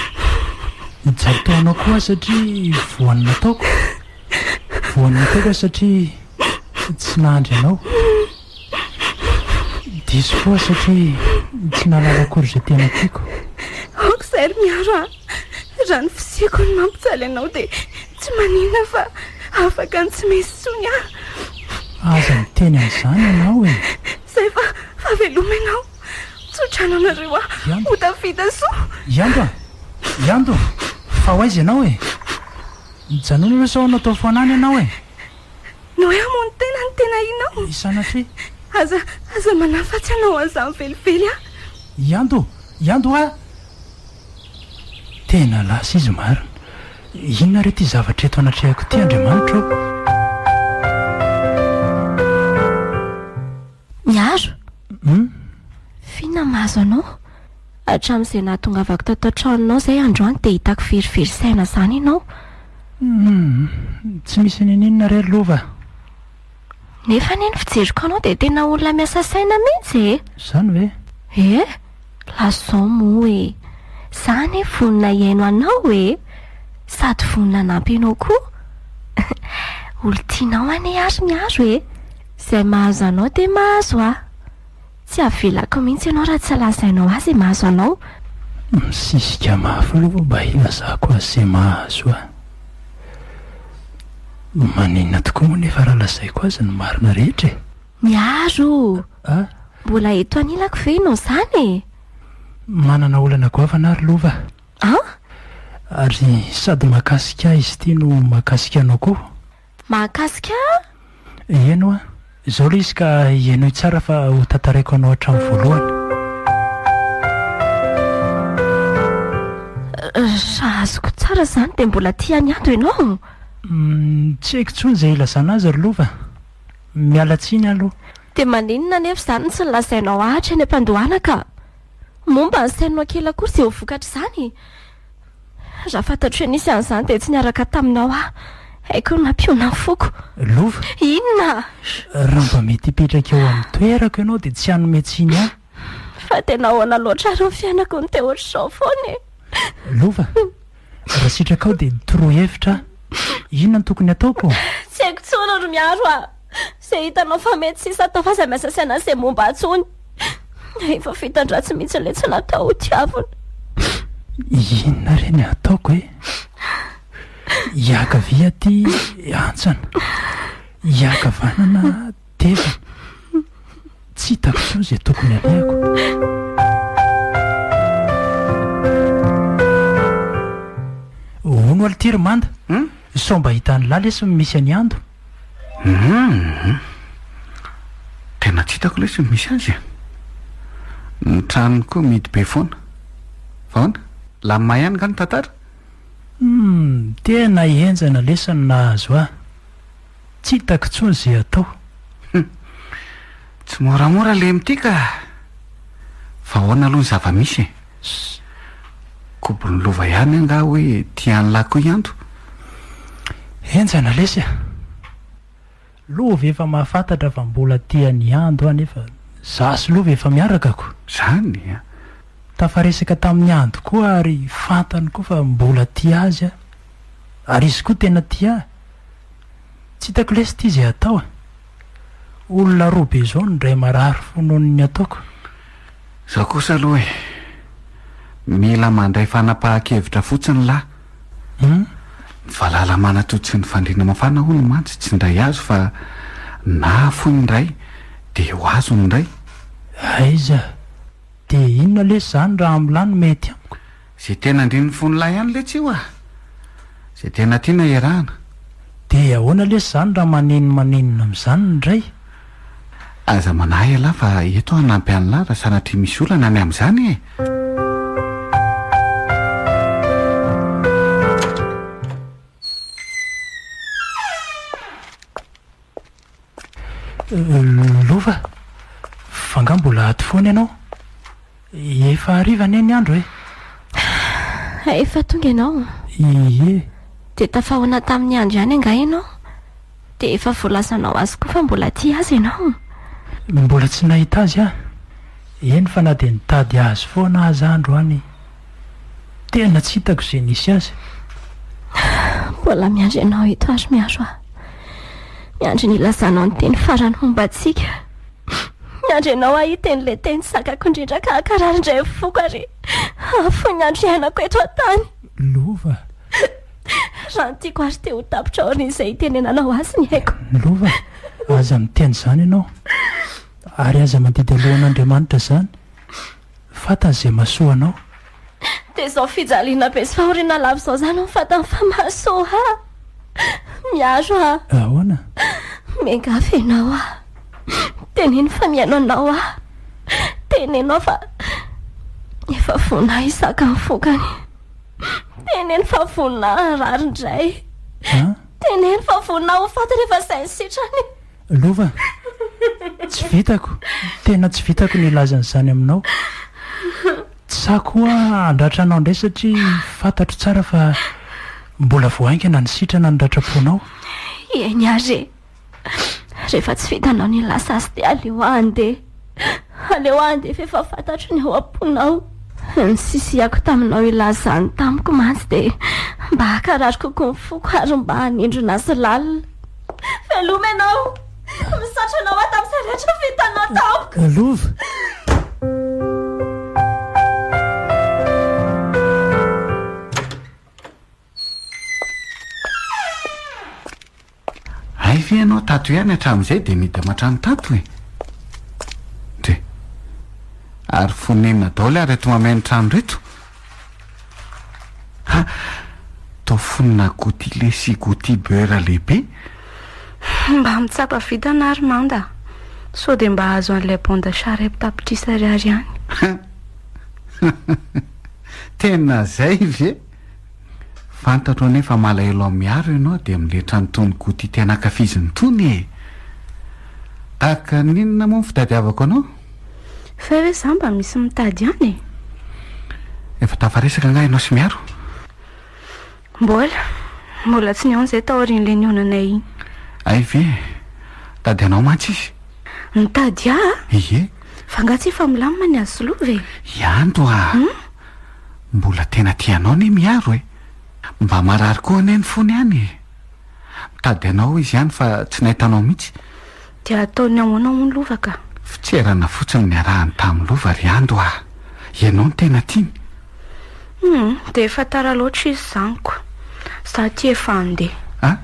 Nijaly teo anao koa aho satria voan'ny nataoko. Voan'ny nataoko aho satria tsy nahandry anao. Diso koa aho satria tsy nahalala akory izay tena tiako. Aoka izay ry Miaro a! Raha ny fisiako no mampijaly anao dia Tsy manina fa afaka ny tsy mey intsony aho. Aza miteny an'izany ianao e! Izay fa fa veloma ianao. Tsodrano anareo aho ho tafita so! I Anto a! I Anto! Fa ho aiza ianao e? Mijanona aloha sao natao fanahy ny anao e! Ny hoe hamono tena no tena inao? I Sanatria. Aza aza manafatsy anao an'izany velively aho. I Anto! I Anto a! Tena lasa izy marina. Inona re ity zavatra eto anatrehako ity Andriamanitra ô? Miaro! Hum? F'inona mahazo anao? Hatramin'izay nahatongavako tato an-tranonao izay androany dia hitako verivery saina izany ianao. Hum, tsy misy n'inon'inona re lova. Nefa anie ny fijeriko anao dia tena olona miasa saina mihitsy e! Izany ve? Ee, lazao moa e! Za anie vonona hihaino anao e! Sady vonona hanampy anao koa! Olon-tianao anie ary ny aro e! Izay mahazo anao dia mahazo ahy! Tsy avelako mihitsy ianao raha tsy lazainao ahy izay mahazo anao. Misisika mafy aloha vao mba hilazako azy izay mahazo ahy. Maninona tokoa moa nefa raha lazaiko azy ny marina rehetra e? Miaro o! Mbola eto anilako ve ianao izany e? Manana olana goavana aho ry Lova a! Ary sady mahakasika ahy izy ity no mahakasika anao koa. mahakasika ahy? Heno an! Izao ilay izy ka henoy tsara fa ho tantaraiko anao hatramin'ny voalohany. Raha azoko tsara izany dia mbola tia an'i Ado ianao? Tsy haiko intsony izay hilazana azy ry Lova. Miala tsiny aloha. Dia maninona anefa izany no tsy nolazainao ahatra eny am-pandohana ka? Moa mba asainao kely akory izay ho vokatr'izany? Raha fantatro hoe nisy an'izany dia tsy niaraka taminao aho. Hay koa ny mampihoana ny foko. Lova. Inona? Raha mba mety hipetraka eo amin'ny toerako ianao dia tsy hanome tsiny ahy. Fa tena ahoana loatra ary ny fiainako no te ohatr'izao foana e? Lova. Raha sitrakao dia torohevitra aho. Inona no tokony hataoko? Tsy haiko intsony ry Miaro a! Izay hitanao fa mety sy sata f'aza miasa sy anasa izay momba ahy intsony. Efa fitan-dratsy mihitsy ilay tsy natao ho tiavina. Inona re ny ataoko e? Iakavia aty hantsana, iakavanana tevana. Tsy hitako intsony izay tokony alehako. Hono alitiry manda sao mba hitan'i la lesy ny misy an'i ando. Humm. Tena tsy hitako lesy ny misy azy e. Ny tranony koa mihidy be foana. Fa ahoana? Lamina ihany nga ny tantara? Humm, tena henjana lesy ny nahazo ahy. Tsy hitako intsony ze atao. Humm. Tsy moramora le mty ka! Fa ahoana aloha ny zava-misy e? Kobon'ny lova ihany angaha hoe tian'lah koa i Anto? Henjana lesy a! Lova efa mahafantatra fa mbola tian'i Ando aho nefa za sy lova efa miaraka ko! Zany a! Tafaresaka tamin'i Ando koa ary fantany koa fa mbola tia azy aho ary izy koa tena tia ahy! Tsy hitako lesy ty ze hatao e! Olona roa be zao no ndray marary fo nohon ny ataoko. Zao kosa aloha e! Mila mandray fanapahan-kevitra fotsiny lah! Humm! Ny valala manatody sy ny fandriana mafana hono mantsy tsy ndray azo fa na afoy ny ndray dia ho azo ny ndray. Aiza! Dia inona lesy zany raha amla no mety amiko? Ze tena andrin'ny fon'lah ihany letsy io ah! Ze tena tiana iarahana. Dia ahoana lesy izany raha maneno manenina amin'izany ny ray? Aza manahy ialahy fa eto aho hanampy an'lah raha sanatria misy olana ny amin'izany e! Lova, fa angaha mbola ato foana ianao? Efa hariva anie ny andro e! Ah, efa tonga ianao? Ie. Dia tafahoana tamin'ny andro ihany angaha ianao? Dia efa voalazanao azy koa fa mbola tia azy ianao? Mbola tsy nahita azy aho. Eny fa na dia nitady azy foana aza aho androany. Tena tsy hitako izay nisy azy. Mbola miandry anao eto ary miaro ahy. Miandry ny hilazanao ny teny farany momba antsika. Miandry anao ahy hiteny ilay teny zakako indrindra ka hakarary indray ny foko ary hahafoy ny andro iainako eto an-tany. Lova. Raha ny tiako ary te ho tapitra aorian'izay hitenenanao azy ny aiko. Lova, aza miteny izany ianao. Ary aza mandidy alohan'Andriamanitra izany. Fantany izay mahasoa anao. Dia izao fijaliana be sy fahoriana lava izao izany no fantany fa mahasoa ahy. Miaro aho. Ahoana? Miangavy ianao aho. Teneno fa mihaino anao aho. Teneno aho fa efa vonona hahizaka ny vokany. Teneno fa vonona harary indray. Teneno fa vonona ho faty rehefa izay ny sitrany. Lova, tsy vitako, tena tsy vitako ny hilaza an'izany aminao. Tsy sahy koa handratra anao indray satria fantatro tsara fa mbola vao haingana ny sitrana noratrapoanao. Eny ary e! Rehefa tsy vitanao ny hilaza azy dia aleo handeha. Aleo handefa efa fantatro ny ao am-ponao. Ny sisiako taminao ilazany tamiko mantsy dia mba hakarary kokoa ny foko ary mba hanindrona azy lalina. Veloma ianao! Misaotra anao aho tamin'izay rehetra vitanao tamiko. Lova. Hay ve ianao tato ihany hatramin'izay dia nidina hatrany tato e? Dre. Ary fonenina daholo ary eto mameno trano reto? Ha! Toa fonona goutillet sy gouti beurre lehibe. Mba mitsapa vintana ary manda sao dia mba hahazo an'ilay bon d'achat ray tapitrisa ariary ihany. Tena izay ve? Fantatro anie fa malahelo amin'i Mihary ianao dia miletra an'itony goûty tena ankafiziny itony e! Tahaka ny inona moa ny fitadiavako anao? Fa hoe za mba misy mitady an e! Efa tafaresaka angaha ianao sy Mihary? Mbola. Mbola tsy nihaona izay taorian'ilay nihaonanay iny. Hay ve! Nitady anao mantsy izy. Nitady ahy? Ie. Fa angaha tsy efa milamina ny azy sy Lova e? Ianto a! Hum? Mbola tena tia anao anie Miharo e! Mba marary koa anie ny fony any e! Mitady anao izy any fa tsy nahita anao mihitsy. Dia ataony ahoana hono Lova ka? Fitserana fotsiny niarahany tamin'i Lova ry Ando ah! Ianao no tena tiany? Humm, dia efa tara loatra izy izany ko! Za ity efa handeha. Ah!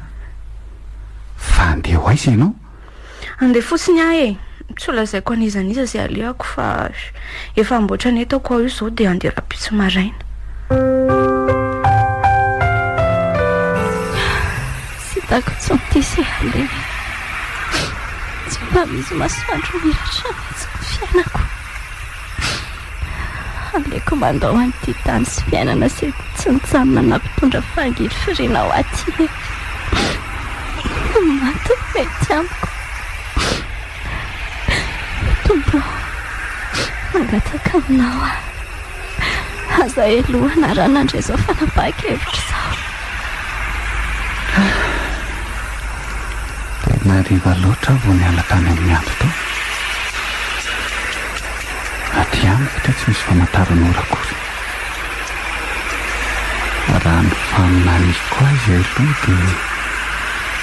Fa handeha ho aiza ianao? Andeha fotsiny aho e! Tsy ho lazaiko an'iza an'iza izay alehako fa efa amboatra ny entako aho io izao dia andeha rahampitso maraina. Tsy hitako intsony ity izay alehako. Tsy mba misy masoandro miratra mihitsy ny fiainako. Aleoko mandao an'ity tany sy fiainana izay tsy mijanona na mpitondra fangirifiriana ho aty e! Ny maty no mety amiko. Tompo ô, mangataka aminao aho, aza helohina raha nandre izao fanapahan-kevitra izao. Tena hariva loatra aho vao niala tany amin'ny ady tao. Aty amiko dia tsy misy famantaran'ora akory. Raha ny faminaniako azy aloha dia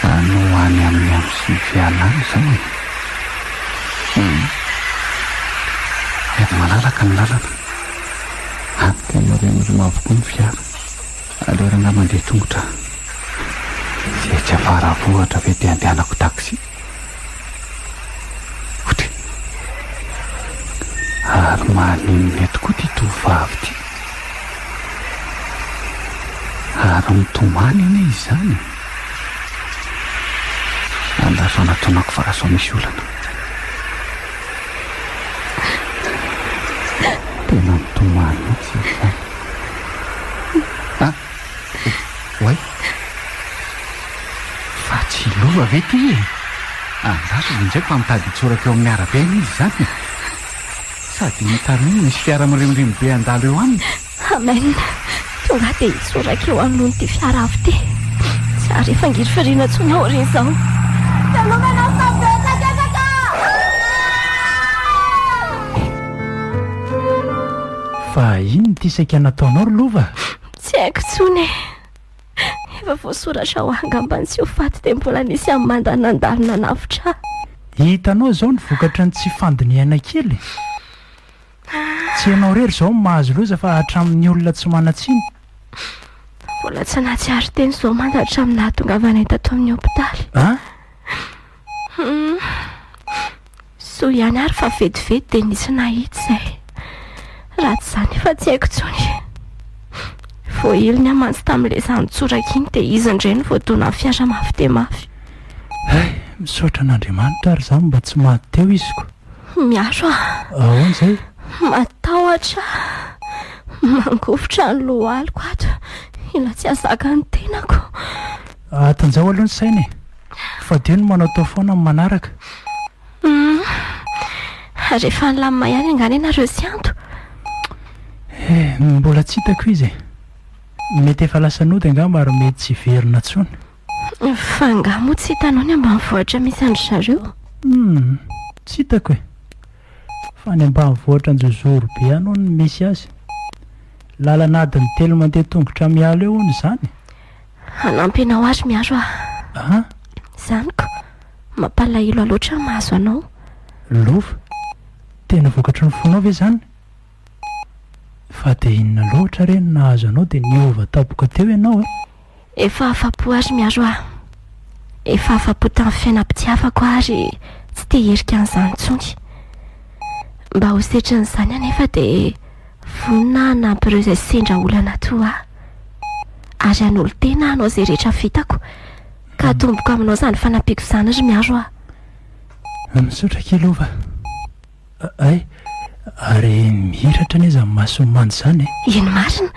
any ho any amin'ny amosivy alina izao e. Hum. Efa malalaka ny lalana. Any dia moriamorioma avokoa ny fiara. Aleo rangahy mandeha tongotra. Tsy etsy Afaravohitra ve dia andehanako taxi? Ary maninona eto koa ity tovovavy ity? Ary mitomany anie izany e! Andazao natonako fa lasa misy olana. Tena mitomany mihitsy izany. Oay! Fa tsy lova ve ity e? Andrasana indray fa mitady hitsoraka eo amin'ny arabe anie izy izany e! Sady iny taroa iny misy fiara mirimorimo be handalo eo aminy. Amen! Tonga dia hitsoraka eo anoloan'ity fiara avo ity. Tsy hary efa ngirifiriana intsony aho ry izao. Velomena fa betsaka efa ka! Fa inona ity saika nataonao ry lova? Tsy haiko intsony e. Efa voasoratra ho angamba ny tsy ho faty dia mbola nisy amin'ny manda nandalo nanavotra ahy. Hitanao izao ny vokatry ny tsy fandinihana kely e. Tsy ianao irery izao no mahazo loza fa hatramin'ny olona tsy manan-tsiny. Mbola tsy nahatsiaro teny izao manda hatramin'ny nahatongavana ahy tato amin'ny hopitaly. An? Soa ihany ary fa vetivety dia nisy nahita izay. Raha tsy izany efa tsy haiko intsony. Voahiliny aho mantsy tamin'ilay zana-tsoraka iny dia izy indray no voadonan'ny fiara mafy dia mafy. Hay, misaotra an'Andriamanitra ary izaho mba tsy maty teo iziko. Miaro aho. Ahoana izay? Matahotra. Mangovitra ny lohaliko ato. Ila tsy hahazaka ny tenako. Atanjaho aloha ny saina e. Fa dia ny manaotao foana ny manaraka. Humm. Ary efa nilamina ihany angaha ianareo sy Anto? Eh, mbola tsy hitako izy e. Mety efa lasa nody angamba ary mety tsy hiverina intsony. Fa angaha moa tsy hitanao ny ambanivohitra misy an-dry zareo? Humm, tsy hitako e. Fa any ambanivohitra an-jozoro be any hono no misy azy. Lalana adiny telo mandeha tongotra miala eo hono izany. Hanampy anao aho ry Miaro a. Ah? Zaniko, mampalahelo ahy loatra ny mahazo anao. Lova, tena vokatry ny fonao ve izany? Fa dia inona loatra re no nahazo anao dia niova tampoka teo ianao e? Efa afa-po aho ry Miaro a. Efa afa-po tamin'ny fiainam-pitiavako aho ary tsy te-hierika an'izany intsony. Mba ho setrin'izany anefa dia. Vonona hanampy ireo izay sendra olana toa ahy, ary hanolo-tena hanao izay rehetra vitako ka hatomboko aminao izany fanampiako izany ry Miaro a! Misaotra kely Ova a! Hay, ary mihiratra anie izany mason'ny manja izany e! Eny marina!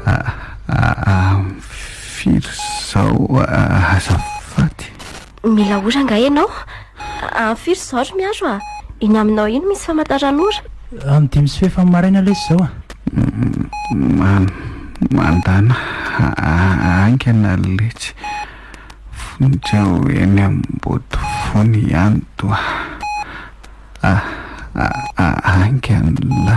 Aah, firy izao azafady? Mila ora angaha ianao? Any firy izao ry Miaro a? Iny aminao iny misy famantaran'ora. Amin'ny dimy sy fefa maraina lesy izao a. Mandana haingana letsy fonja ho eny Ambodivona ihany toa haingana.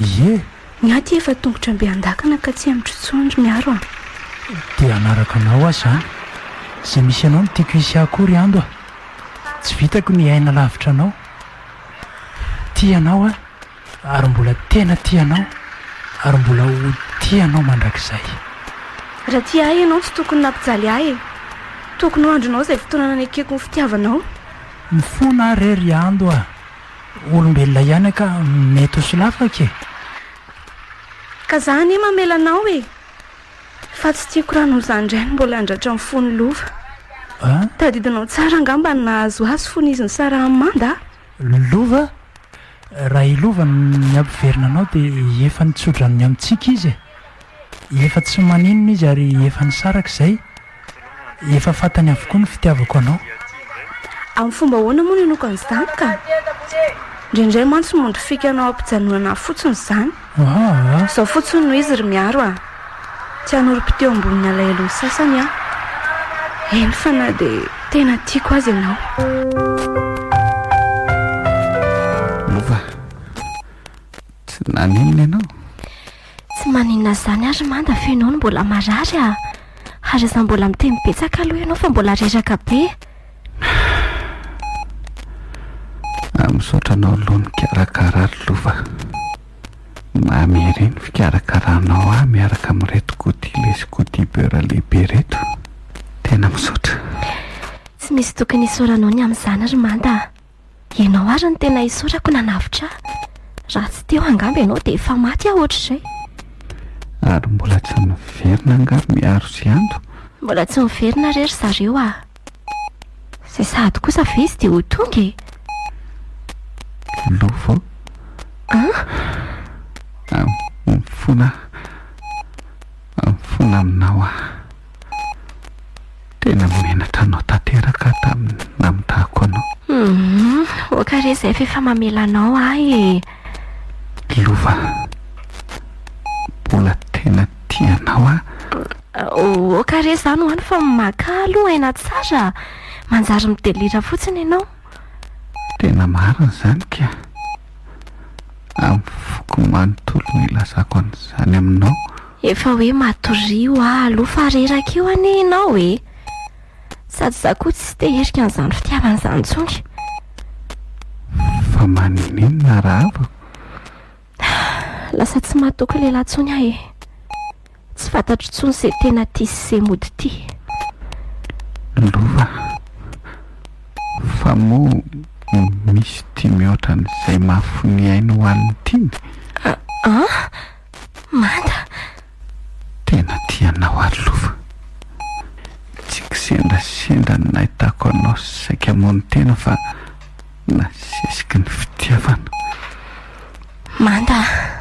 Ie! Ny ahy ty efa tongotra mbe andakana ka tsy hemotro intsony ry Miaro a! Dia hanaraka anao aho izany. Izay misy anao no tiako hisy ahy koa ry Ando a! Tsy vitako ny hiaina lavitra anao. Tia anao aho ary mbola tena tia anao ary mbola ho tia anao mandrakizay. Raha tia ahy ianao tsy tokony nampijaly ahy e! Tokony ho andrinao izay fotoana nanekeko ny fitiavanao. Mifona aho re ry Ando a! Olombelona ihany ka mety ho solafaka e! Ka za anie mamela anao e! Fa tsy tiako raha noho izany indray no mbola handratra ny fon'i Lova. Tadidinao tsara angamba ny nahazo azy fony izy nisarahany Manda a! Lova? Raha i Lova no nihampiverina anao dia efa nitsodranony amintsika izy e! Efa tsy maninona izy ary efa nisaraka izay, efa fantany avokoa ny fitiavako anao. Amin'ny fomba ahoana moa no inoako an'izany ka? Indraindray mantsy mody fikanao ampijanonana ahy fotsiny izany. Aa! Izao fotsiny no izy ry Miaro a! Tsy hanorim-po teo ambonin'ny alahelon'ny sasany aho. Eny fa na dia tena tiako aza ianao. Lova, tsy naninona ianao? Tsy maninona izany ary manda fa ianao no mbola marary a! Ary aza mbola miteny betsaka aloha ianao fa mbola reraka be. Ah, misaotra anao aloha nikarakara ry lova. Mamy ery ny fikarakaranao ahy miaraka amin'ireto godile sy godibeur lehibe ireto. Tena misaotra. Tsy misy tokony isaoranao ny amin'izany ry manda a! Ianao ary no tena isaorako nanavotra ahy. Raha tsy teo angamba ianao dia efa maty aho ohatr'izay. Ary mbola tsy niverina angaha ry Miaro sy Ando? Mbola tsy niverina re ry zareo ah. Izay sahady kosa ve izy dia ho tonga e? Lova ô. An? An, mifona aho. Mifona aminao aho. Tena menatra anao tanteraka aho tamin'ny namitahako anao. Hum, oka re zay f'efa mamela anao ahy e! Lova, mbola tena tia anao aho. Oka re zany hoany fa maka ahy aloha aina tsara. Manjary mi-delira fotsiny ianao. Tena marina izany ka. Amin'ny foko manontolo no ilazako an'izany aminao. Efa hoe matorio aho aloha fa reraka eo anie ianao e! Sady za koa tsy te hirika an'izany fitiavana izany intsony. Fa maninona raha havako? Lasa tsy mahatoky lehilahy intsony aho e! Tsy fantatro intsony izay tena tia sy izay mody tia. Lova, fa moa misy tia mihoatra an'izay maha fo ny ainy ho an'ny tiany? An? Manda! Tena tia anao ary Lova. Tsy kisendrasendra ny nahitako anao saika hamono tena fa nasesiky ny fitiavana. Manda a!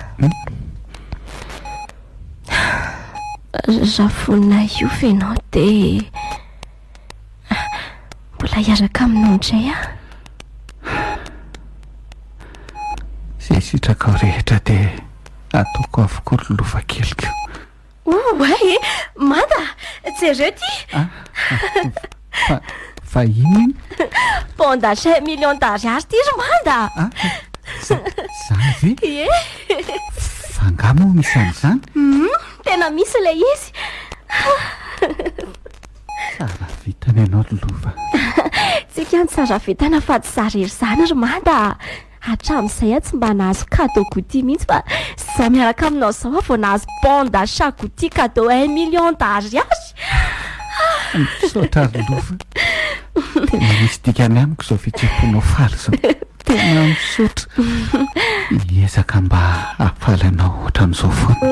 Raha vonona hiova ianao dia. Mbola hiaraka aminao indray aho. Izay sitrakao rehetra dia ataoko avokoa ry lova keliko. Oa e, manda, jereo ty. Ah, fa, fa inona iny? Bon d'achat million d'ariary ty ry manda. Ah, zany ve? Ie. Fa nga moa misy an'izany? Hmm, tena misy ilay izy. Saravitana ianao ry lova. Tsy kianjo saravitana fa tsy za rery zany ry mada a. Hatramin'izay aho tsy mba nahazo cadeau Gucci mihitsy fa zao miaraka aminao zao aho vao nahazo bon d'achat Gucci cadeau un million d'ariary. Misaotra ry lova. Tena misy dikany amiko izao fihetseham-ponao faly izao. Tena misaotra. Miezaka mba hahafaly anao ohatran'izao foana.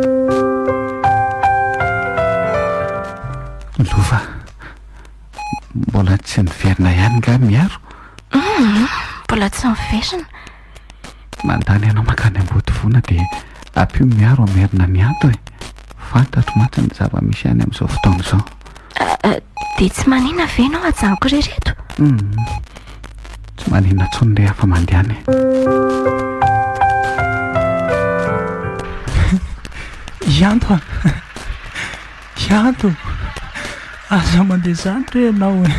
Lova, mbola tsy niverina ihany nga Miaro? Mbola tsy niverina. Mandany anao mankany Ambodivona dia. Apio miaro an merina mianto e! Fantatro mantsy ny zava misy any amin'izao fotoana izao. Ah, dia tsy manina ve ianao ajanoko re reto? Hum, tsy manina intsony re afa mandehana e! Ianto a! Ianto! Aza mandeha izany re ianao e!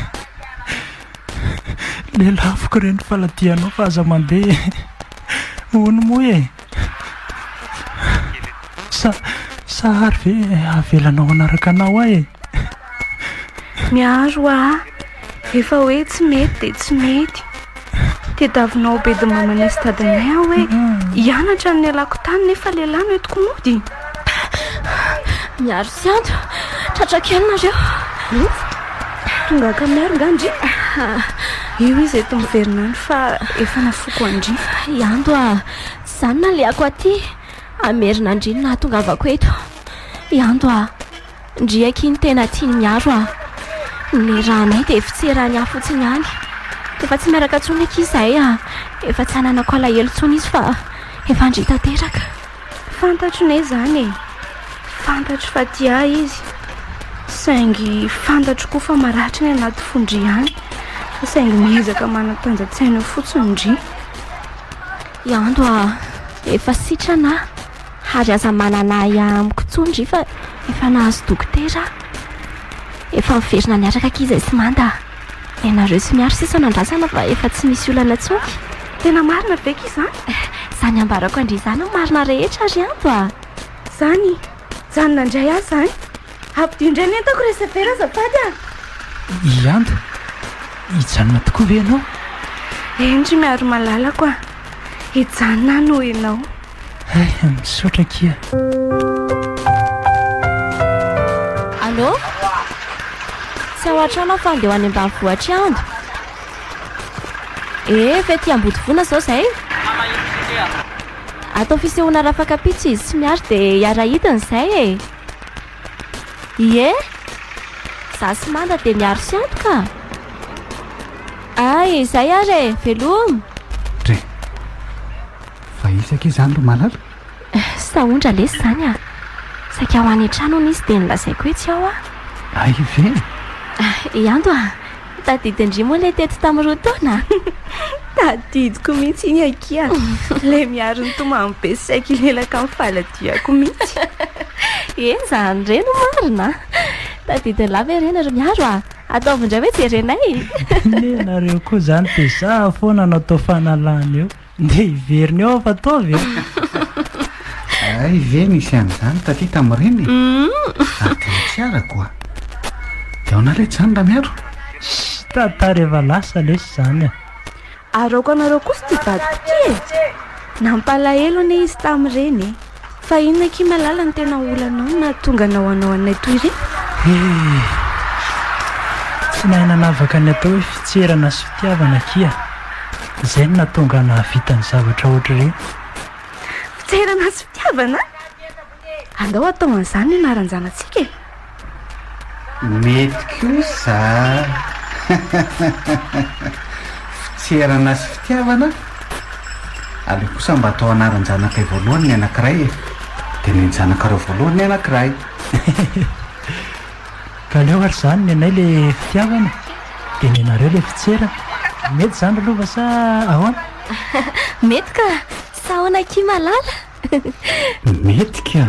Lelafiko re ny faladianao fa aza mandeha e! Hono moa e! Sa, sa ary ve avelanao hanaraka anao ahy e? Miaro ahy, rehefa hoe tsy mety dia tsy mety. Tediavinao ho bedy mamanay sy dadanay aho hoe hianatra ny nialako tany nefa lehilahy no entiko mody. Miaro sy Ando, tratra kely nareo. Tonga ankamiaro nga ndry. Io izy eto miverina any fa efa nafoko an-dry. I Ando a, Za no nalehako aty hamerina an-dry ny nahatongavako eto. I Ando a! Ndry akia ny tena tian'i Miaro a! Nirahanay dia fitsirany ahy fotsiny ihany. Efa tsy miaraka intsony akia izahay a! Efa tsy ananako alahelo intsony izy fa efa ndry tanteraka. Fantatro ne izany e! Fantatro fa tia ahy izy saingy fantatro koa fa maratra ny anaty fon-dry any fa saingy miezaka manatanja-tsaina fotsiny ndry. Iando a, efa sitrana ah, ary aza manana ahy amiko intsony ry fa efa nahazo dokotera aho. Efa miverina niaraka akia izay sy manda a. Ianareo sy Miaro sisa no andrasana fa efa tsy misy olana intsony. Tena marina ve akia izany? Izany ambarako an-dry izany no marina rehetra ry Iando a. Izany? Mijanona indray aho izany. Ampdio indray ny entako re Sefera azafady a! I Anda, hijanona tokoa ve ianao? Eny ry Miaro malalako a! Hijanona aho noho ianao. Hay, misaotra akia. Allô? Tsy ao an-trano aho fa andeha ho any ambanivohitr'i Anda. Ee, fety iambodivona izao izay? Atao fisehoana rafakapitso izy sy Miaro dia hiara-hidina izay e! Ie! Za sy Manda de miaro sy antoka a! Ay! Zay ary e! Veloma! Dre! Fa izy akia zany ry Malala? Eh! Sahondra lesy zany a! Saika ho any an-trano hono izy de nolazaiko hoe tsy ao aho. Ay ve? Ay! Ando a! Tadidy ndry moa ilay teto tamin'ny roa taona a! Tadidiko mihitsy iny akia. Ilay miaro ny tomany be sy saiky hilelaka amin'ny faladihako mihitsy. Eny izany re no marina a! Tadidin'i la ve re nareo miaro a! Ataovy indray hoe jerenay e! Anie ianareo koa izany dia za foana no atao fanalana eo. Ndeha hiverina eo aho fa ataovy e Ay ve nisy an'izany taty tamin'ireny e Ary tena tsy arako a Dia ahoana re izany Ramiaro? Shh, tantara efa lasa lesy izany a Araoko anareo kosa ity vadiko ity e Nampalahelo anie izy tamin'ireny e Fa inona akia malala no tena olanao no nahatonga anao hanao anay toy ireny? Hee! Tsy nahay nanavaka ny atao hoe fitserana sy fitiavana akia. Izay no nahatonga ahy nahavita ny zavatra hoatr'ireny. Fitserana sy fitiavana? Andao hatao an'izany ny anaran-janatsika e! Mety kosa fitserana sy fitiavana aleo kosa mba atao anaran-janakay voalohany ny anankiray e! dia nenjanakaro voalohany ny anankiray. Ka aleo ary izany nenay le fitiavana dia nenareo le fitserana. Mety izany ry lova sa ahoana? Mety ka! Sa ahoana akia malala? Mety ka!